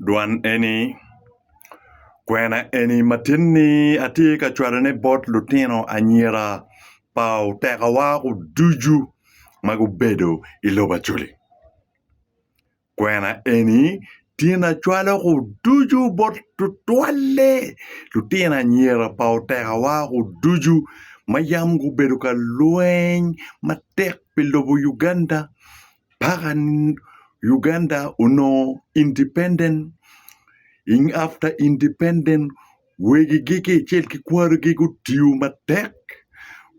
Dwan eni kwena eni matinni atye ka cwalone bot lutino anyira pa otekawa ducu ma gubedo i lobo Acholi. Kwena eni tinni acwalo ducu bot tutwalle lutino anyira pa otekawa ducu ma yam gubedo ka lweny matek pi lobo Uganda. paka ni Uganda onongo independent after independent wegigi kicel ki kwarigi gutiyo matek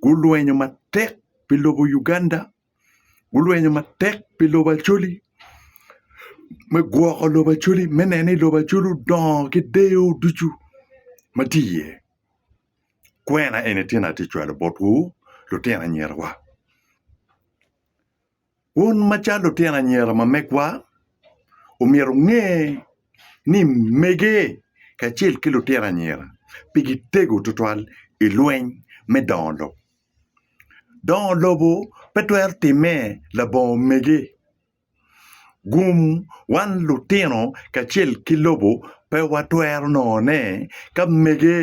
gulwenyo matek pi lobo Uganda gulwenyo matek pi lobo Acholi me gwoko lobo Acholi me neno ni lobo Acholi odongo ki deyo ducu ma tye iye kwena eni tye na atye ka cwalo botwu lutino anyirawa. Wun macalo lutino anyira ma megwa, omyero wunge ni mege kacel ki lutino anyira pigi tego tutwal i lweny me dongo lobo. Dongo lobo pe twero timme labongo mege. Gum wan lutino kacel ki lobo pe watwero nongone ka mege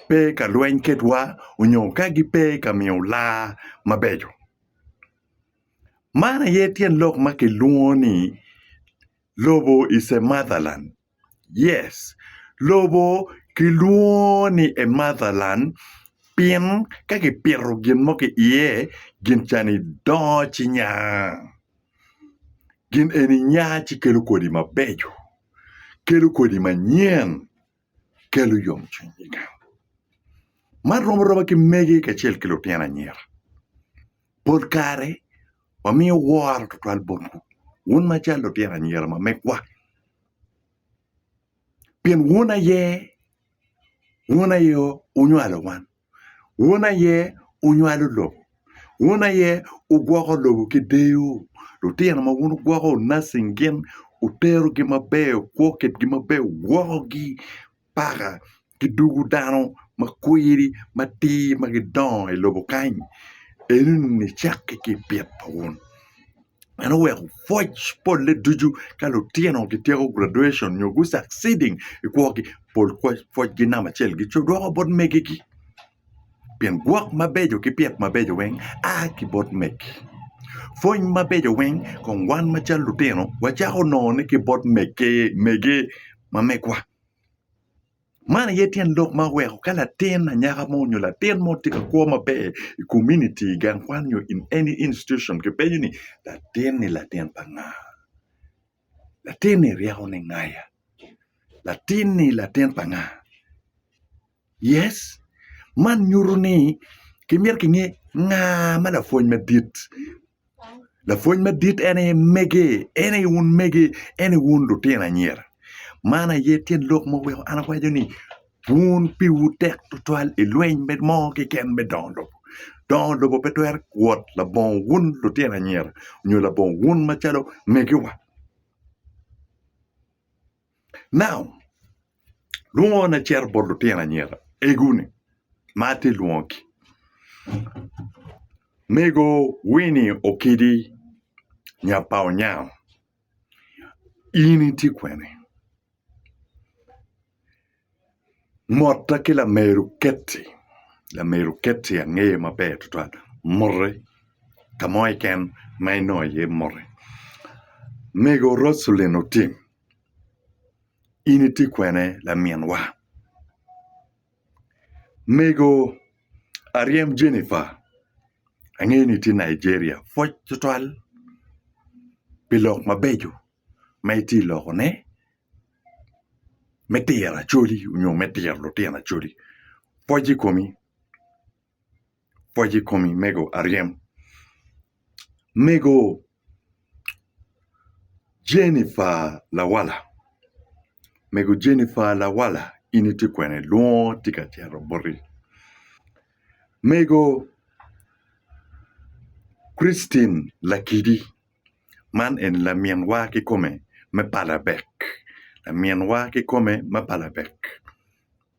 pe ka lweny kedwa onyo ka gipe ka miyo laa mabeco. Man aye tyen lok ma kilwongo ni lobo is a mother land yes lobo kilwongo ni a mother land pien ka kipito gin mo ki iye gin ca-ni dongo ci nya gin eni nya ci kelo kodi mabeco kelo kodi manyen. kelo yomcwiny i gang. Man rom aroba ki mege kacel ki lutino anyira. Pol kare wamiyo woro tutwal botwu wun macalo lutino anyira ma megwa pien wun aye wun aye wunywalo wan. Wun aye wunywalo lobo. Wun aye wugwoko lobo ki deyo. Lutino ma wun wugwoko wunassing gin, wuterogi maber, wukwo kitgi maber, wuwokogi paka ki dugu dano ma kwiri matir ma gidongo i lobo kany, eno ni wucakki ki i pito wun. En oweko pwoc polle ducu ka lutino gityeko graduation nyo gu succeeding i kwogi pol pwocgi namba acel gidwoko bot megigi pien gwok mabeco ki pyek mabeco weng a ki bot megi pwony mabeco weng kong wan macalo lutino wacako nongone ki bot mege ma megwa. Man aye tyen lok ma weko ka latin anyaka mo nyo latin mo tye ka kwo maber i komuniti i gang kwan nyo in any institution kipenyo ni latin-ni latin pa nga? latin-ni ryeko ninga ya? latin-ni latin pa nga? Yes man nyuto ni kimyero kinge nga ma lapwony madit Lapwony madit en aye mege, en aye wun mege, en aye wun lutino anyira. Man aye tyen lok ma omyero an awaco ni wun piwu tek tutwal i lweny mo keken me dongo lobo. Dongo lobo pe twero wot labongo wun lutino anyira nyo labongo wun macalo megiwa. Lwongo an acito bot lutino anyira egoni ma atye lwongogi. Mego Winnie Okidi nya pa Onyang in itye kwene? Motta ki lameru Ketty, lameru Ketty angeye maber tutwal mote ka mo keken ma inongo iye mote. Mego Rocelyn Otim In itye kwene laminwa? Mego aryem Jennifer, angeyo ni itye Nigeria pwoc tutwal pi lok mabeco ma itye lokone me tiro acholi nyo me tiro lutino acholi. Pwoc i komi. pwoc i komi mego aryem. Mego Jennifer lawala, mego Jennifer lawala in itye kwene lwongo tye ka cito boti. Mego Christine Lakidi man eni laminwa kikome me palabek laminwa kikome me palabek.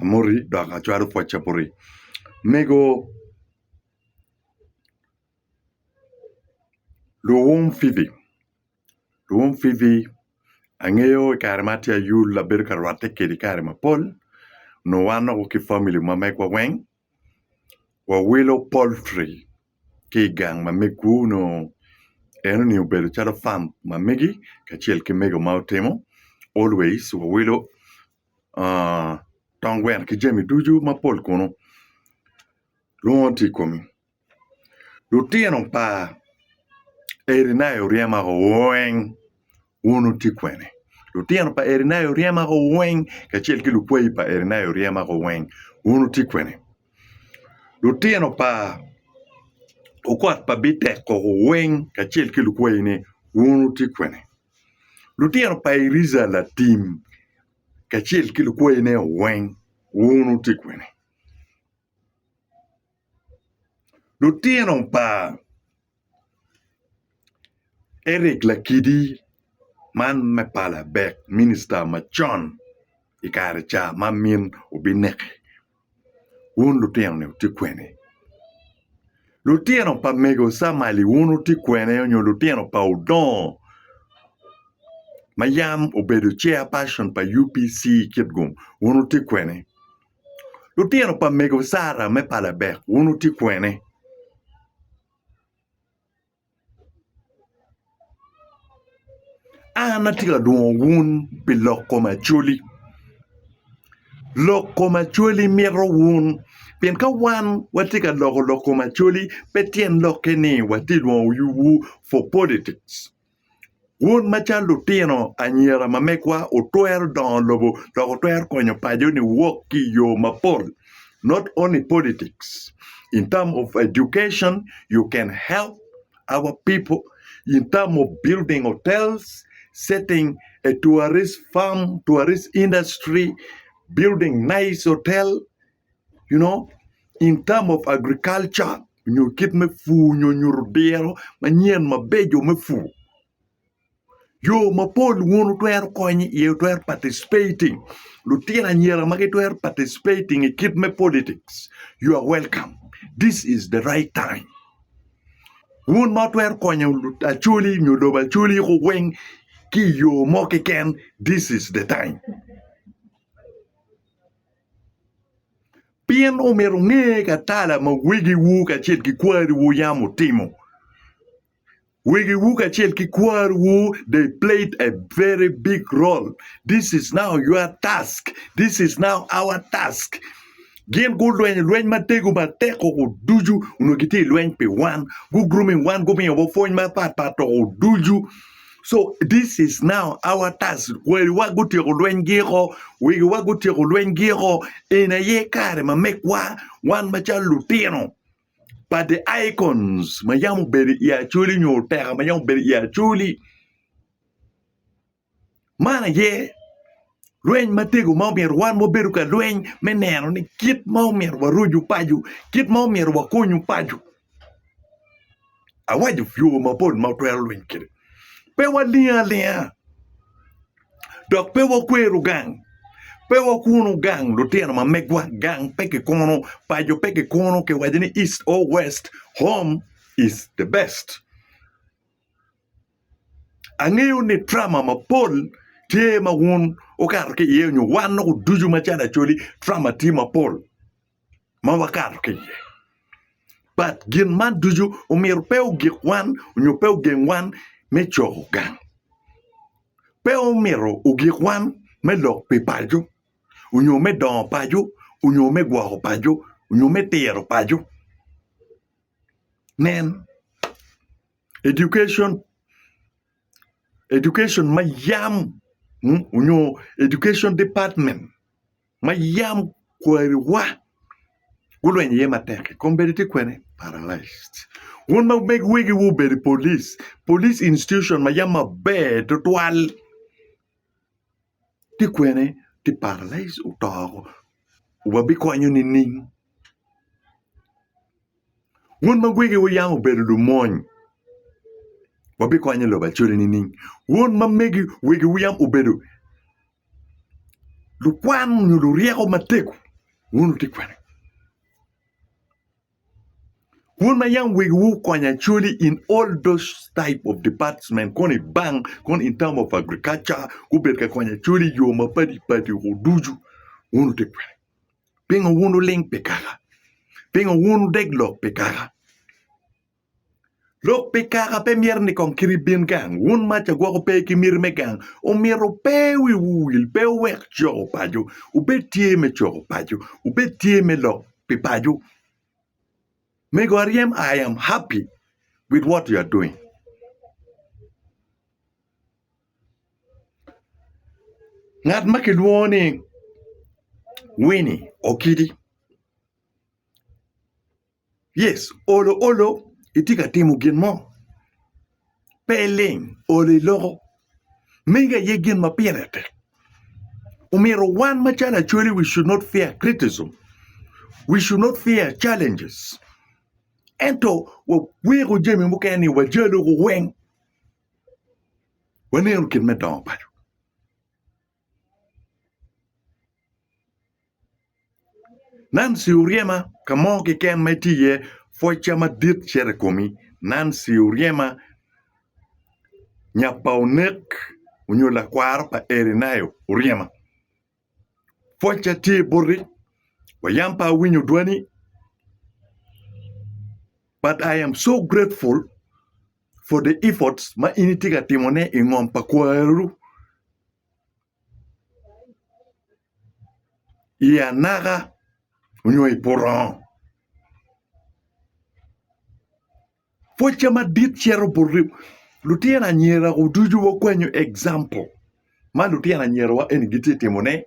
Amoti dok acwalo pwocca boti. Mego luwum Fibi, luwum Fibi angeyo i kare ma atye ayul abedo ka rwatte kedi kare mapol nongo wan nongo ki famili ma megwa weng wawilo poltri ki i gang ma megwu nongo en oningo obedo calo fam ma megi kacel ki mego ma otimo always wawilo tong gweno ki jami ducu mapol kunu nongo tye i komi lutino pa Erinai oryema woko weng wun wutye kwene lutino pa Erinai oryema woko weng kacel ki lukwayi pa Erinai oryema woko weng wun wutye kwene lutino pa okot pa Bitek woko weng kacel ki lukwayine wun wutye kwene. Lutino pa Eriza latim kacel ki lukwayine weng wun wutye kwene? Lutino pa Eric Lakidi man me pala Abek, minista macon i kare ca ma min obineke. Wun lutino-ni wutye kwene? Lutino pa mego Camaili wun wutye kwene nyo lutino pa odongo ma yam obedo chair person pa UPC Kitgum wun wutye kwene? Lutino pa mego Sarah me Palebek wun wutye kwene? An atye ka dwongo wun pi lok kom Acholi. Lok kom Acholi mito wun pien ka wan watye ka loko lok kom Acholi pe tyen lokke ni watye ka dwongo yubwu for politics. Wun macalo lutino anyira ma megwa, wutwero dongo lobo dok wutwero konyo paco ni wok ki i yo mapol not only politics in term of education you can help our people in term of building hotels, setting a tourist farm, tourist industry, building nice hotel you know in term of agriculture nyo kit me pur nyo nyuto diro manyen mabeco me pur yo mapol wun wutwero konyo iye wutwero participating lutino anyira ma gitwero participating i kit me politics you are welcome this is the right time wun ma wutwero konyo lut- acoli nyo lobo acoli ku weng ki i yo mo keken this is the time Pien omyero wunge ka tala ma wegiwu kacel ki kwariwu yam otimo. Wegiwu kacel ki kwariwu they played a very big role. This is now your task. This is now our task. Gin gulwenyo lweny matego matek koko ducu onongo gitye ka lweny pi wan. Gu grooming wan gumiyo wa pwony mapat pat koko ducu. So this is now our task. Kwariwa gutyeko lwenygi oko, wigiwa gutyeko lwenygi oko. Eni aye kare ma megwa wan macalo lutino pa the icons ma yam obedo i acoli nyo oteka ma yam obedo i acoli. Man aye Lweny matego ma omyero wan ma wabedo ka lweny me neno ni kit ma omyero warucu paco, kit ma omyero wakonyu paco. Awaco yo mapol ma watwero lweny kwede. Pe walingo alinga dok pe wakwero gang, pe wakuno gang lutino ma megwa, gang pe kikuno, paco pe kikuno, kiwaco ni east or west, home is the best. Angeyo ni drama mapol tye ma wun wukato ki iye nyo wan loko ducu macalo Acholi drama tye mapol ma wakato ki iye but gin man ducu omyero pe ogik wan nyo pe ogeng wan me coko gang pe omyero ogik wan me lok pi paco nyo me dongo paco nyo me gwoko paco nyo me tiro paco nen. Education, education ma yam mm, onyo education department ma yam kwariwa gulwenyo iye matek-ki kong bedi tye kwene paralised. Wun ma meg wegi wu obedo i police, police institution ma yam maber tutwal. Ti kwene ti paralyze oto oko wa bi konyo nining? Wun ma wegi wu yam obedo lumony wa bi konyo lobo acoli nining? Wun ma megi wegi wu yam obedo lukwan nyo luryeko matego wun wu ti kwene? Wun ma yam wegi wu kony actually in all those type of department kong i bank kong in term of agriculture gubed ka kony actually yo mapadi padi ko ducu wun wutye kwede. Pingo wun wuling pi kaka? Pingo wun wudeg lok pi kaka? Lok pi kaka pe myero ni kong kiri bin gang, wun mac a gwoko pe ki miti me gang, omyero pe wiwu wil, pe wuwek coko paco, wubed tye me coko paco, wubed tye me lok pi paco. Mego aryem I am happy with what you are doing. Ngat ma kilwongo ni Winnie Okidi. Yes olo olo itye ka timo gin mo pe iling olo iloko mege aye gin ma pire tek omyero wan macalo acwali we should not fear criticism we should not fear challenges ento waweko jami mukene ni wajalo weng waneno gin me dongo paco. Nancy Oryema ka mo keken ma itye iye pwocca madit cito i komi Nancy Oryema nya pa onek nyo lakwaro pa Erinayo Oryema pwocca tye boti wa yam pe awinyo dwani but I am so grateful. for the efforts ma in itye ka timone i ngom pa kwaru i anaka onyo i purongo. Pwocca madit cito bot lutino anyira wa ducu wakwanyo example ma lutino anyira wa eni gitye ka timone,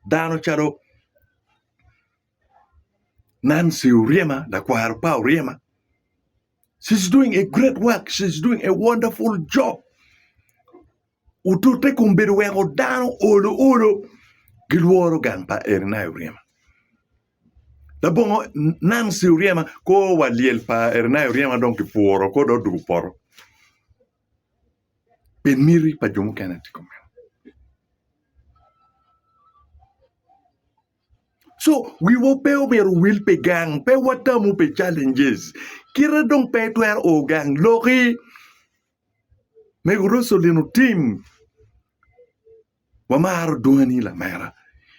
dano calo Nancy Oryema lakwaro pa Oryema. She's doing a great work. She's doing a wonderful job. Otute kom bedo weko dano olo olo gilworo gang pa Erinai Oryema. Labongo Nancy Oryema koo wa lyel pa Erinai Oryema dong kipuro koo dong odugo poto. Pe miti pa jo mukene tye komeno. So, wiwa pe omyero owil pi gang, pe watamu pi challenges. Kite dong pe itwero o gang, loki. Mego Roselyn Otim, wamaro dwoni lamera.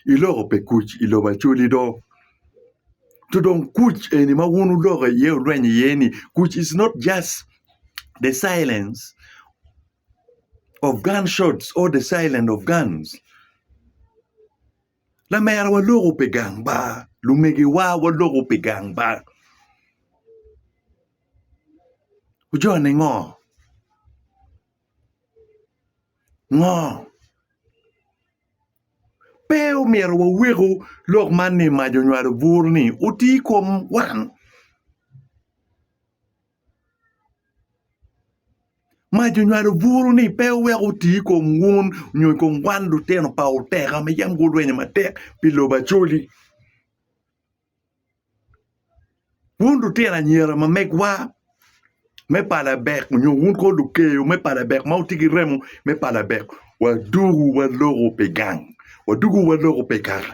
Iloko pe kuc i lobo Acholi do. To dong kuc eni ma wun wuloko iye wulwenyo iye ni kuc is not just the silence of gunshots or the silence of guns. Lamera waloko pi gang bar, lumegiwa waloko pi gang bar. Wujone ngo? Ngo? Pe omyero waweku lok man ni mac onywalo bur ni oti i kom wan. Mac onywalo buru-ni pe owek oti i kom wun nyo i kom wan lutino pa oteka ma yam gurwenyo matek pi lobo Acholi. Wun lutino anyira ma megwa me pa Labek nyo wun kong lukeyo me pa Labek ma wutye ki remo me pa Labek, wadwogo waloko pi gang, wadwogo waloko pi kaka.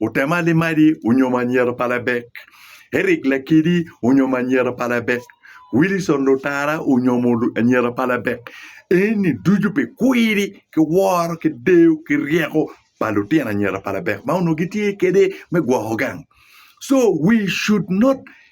Otem Alimadi onyomo anyira pa Labek. Eric Lakidi onyomo anyira pa Labek. Wilison Lutara onyomo anyira pa Labek. Eni ducu pi kwiri ki woro ki deyo ki ryeko pa lutino anyira pa Labek ma onongo gitye kwede me gwoko gang. So we should not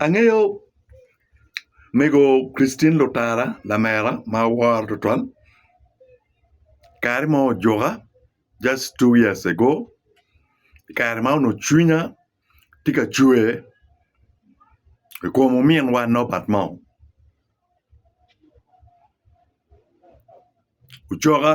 Angeyo mego Christine Lutara lamera ma aworo tutwal kare mo ojuka just two years ago kare ma onongo cwinya tye ka cwer i kom ominwa Norbert mo ocoka.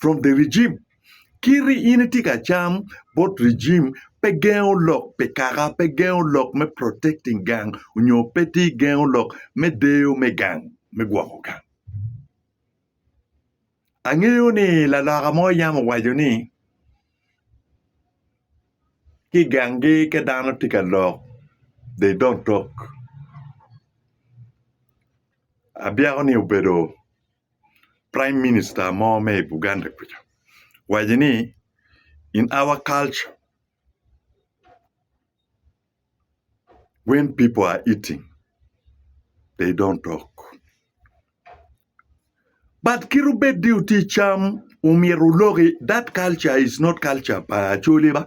from the regime. Kit in itye ka cam bot regime pe gengo lok pi kaka, pe gengo lok me protecting gang onyo pe tye gengo lok me deyo me gang, me gwoko gang. Angeyo ni laloka mo yam owaco ni ki gangi ka dano tye ka lok they don't talk. Abyeko ni obedo Prime minister mo me i Buganda kuca owaco ni in our culture when people are eating they don't talk but kit obed ni wutye icam omyero wuloki that culture is not culture pa acholi ba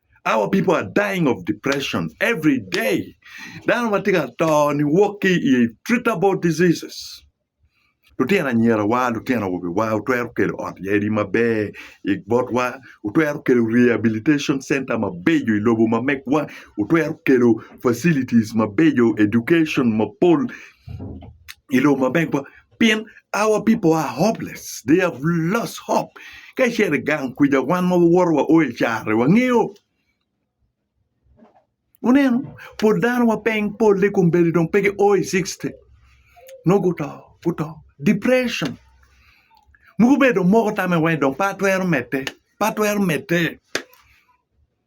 Our people are dying of depression every day. Dano ma tye ka to ni wok ki i treatable diseases. Lutino anyirawa, lutino awobiwa otwero kelo ot yadi maber i botwa, otwero kelo rehabilitation center mabeco i lobo ma megwa, otwero kelo facilities mabeco, education mapol i lobo ma megwa. Pien our people are hopeless, they have lost hope. Ka icito i gang kwica wan ma wawoto wa o i care wangeyo. Wuneno, pol dano wa peng polle i kombeddi dong pe gio i 60. Nongo guto, guto. Depression. Mogo bedo moko tame wai dong pe atwero medde, pe atwero medde.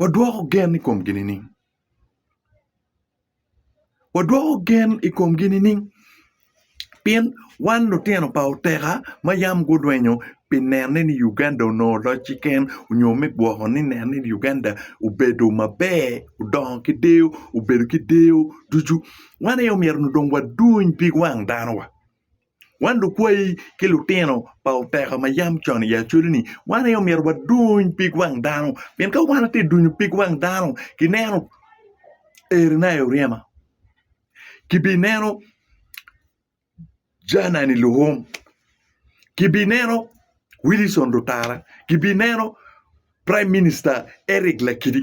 wadwoko gen i komgi nining? Wadwoko gen i komgi nining? Pien wan lutino pa oteka ma yam gurwenyo pi nene ni Uganda onongo locci ken nyo me gwoko ni nene ni Uganda obedo maber odongo ki deyo obedo ki deyo ducu wan aye omyero dong waduny pig wang danowa. Wan lukwayi ki lutino pa oteka ma yam con i acoli-ni, wan aye omyero waduny pig wang dano, pien ka wan watye ka dunyo pig wang dano, kineno erina i oryema, kibineno Janani Luhum, kibineno Wilison Lutara, kibineno Prime Minista Eric Lakidi.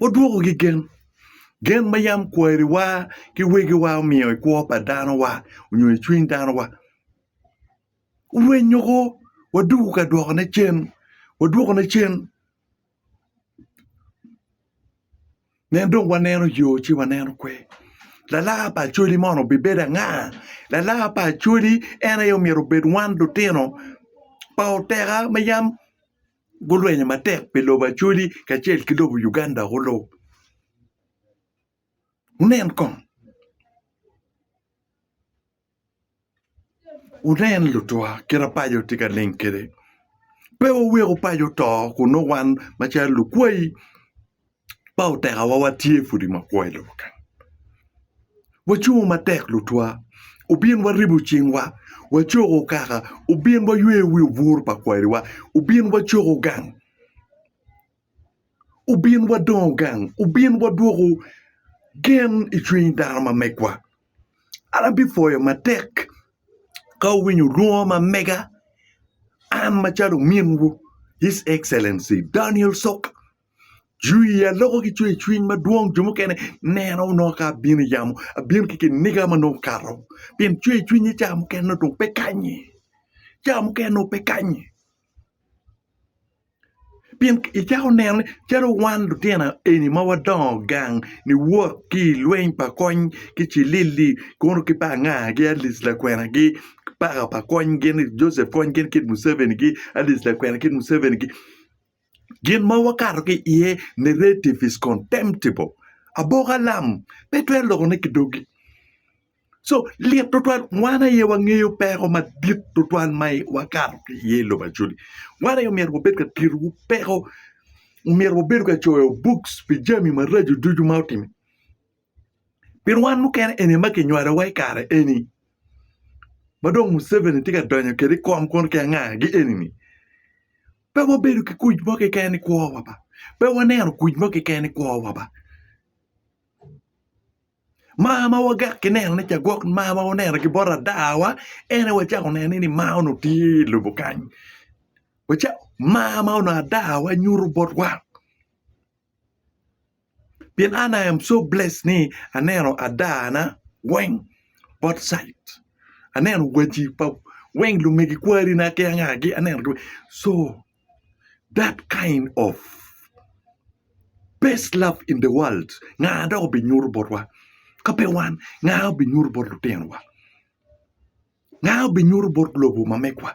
Wadwokogi gen, gen ma yam kwariwa ki wegiwa omiyo i kwo pa danowa nyo i cwiny danowa. Rwenyo kwo waduku ka dwokone cen, wadwokone cen pien dong waneno yo ci waneno kwe. Lalar pa Acholi mono obibedo anga? Lalar pa Acholi en aye myero obed wan lutino pa oteka ma yam. gulwenyo matek pi lobo Acholi kacel ki lobo Uganda kulu. Wunen kong, wunen lutwa kite paco tye ka ling kwede. Pe wuwek paco to kun nongo wan macalo lukwayi. ma otekawa watye pudi ma kwo i lobo kany. Wacungo matek lutwa obin waribo cingwa, wacoko kaka obin wayweyo wi obwur pa kwariwa, obin wacoko gang, obin wadongo gang, obin wadwoko gen i cwiny dano ma megwa. An abipwoyo matek ka awinyo lwongo ma mega an macalo ominwu His Excellency Daniel Sok. Jwi i iya loko ki cwercwiny madwong. Jo mukene nena onongo ka abino i yamo, abino ki kiniga ma nongo okato. Pien cwercwinye ca mukene nongo dong pe kanyi. Ca mukene nongo pe kanyi. Pien icako neno ni calo wan lutino eni ma wadongo gang niwot ki i lweny pa kony ki Cilili kono ki pa anga ki Alice lakwenagi ki paka pa kony gin Joseph kony gin kit Muceveni-gi, Alice lakwena kit Muceveni-gi. Gin ma wakato ki iye, narrative is contemptible. Aboka lam pe twero lokone ki dogi. So, lit twatwal, wan aye wangeyo peko madit twatwal ma wakato ki iye i lobo Acholi. Wan aye omyero wabed ka titowu peko, omyero wabedo ka coyo books pi jami maraco ducu ma otime. pien wan mukene eni aye ma kinywalowa i kare eni ma dong Museveni tye ka donyo kwede i kom kono ki angagi eni-ni pe wabedo ki kuc mo keken i kwowa ba, pe waneno kuc mo keken i kwowa ba, mar ma wagak ki nenone ca gwok mar ma wuneno ki bot ladawa en aye wacako neno ni mar onongo tye i lobo kany, mar ma onongo adawa nyuto botwa. pien an I am so blessed ni aneno adana weng both side aneno waci pa weng lumegi kwari na ki anga gi aneno gi weng so that kind of best love in the world nga dok obinyuto botwa ka pe wan nga obinyuto bot lutinowa nga obinyuto bot lobo ma megwa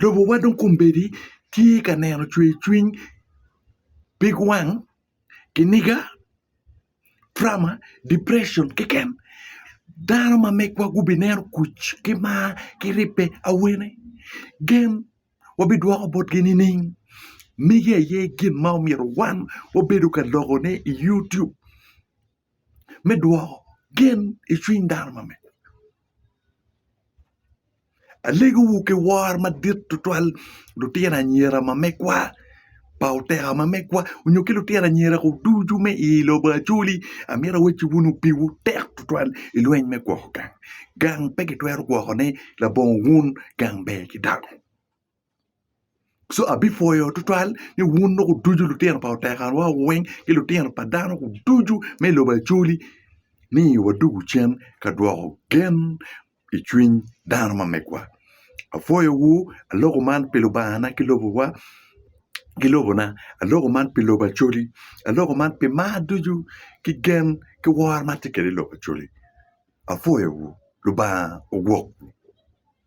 Lobowa dong kombeddi tye ka neno cwercwiny, pig wang, kiniga, trauma, depression keken. Dano ma megwa gubineno kuc ki mar ki ribbe awene. Gen wabidwoko botgi nining? Megi aye gin ma omyero wan wabedo ka lokone i yutub me dwoko gen i cwiny dano ma megwa. Alegowu ki woro madit tutwal lutino anyira ma megwa pa oteka ma megwa onyo ki lutino anyira ko ducu me i lobo Acholi. Amito awacci wun opiwu tek tutwal i lweny me gwoko gang. Gang pe kitwero gwokone labongo wun, gang ber ki dako. So abipwoyo tutwal ni wun loko ducu lutino pa otekarwa weng ki lutino pa dano ducu me i lobo Acholi ni wadugu cen ka dwoko gen i cwiny dano ma megwa. Apwoyowu aloko man pi Lubangana ki lobowa ki lobona aloko man pi lobo Acholi aloko man pi mar ducu ki gen ki woro ma atye kwede i lobo Acholi apwoyowu Lubanga ogwokwu.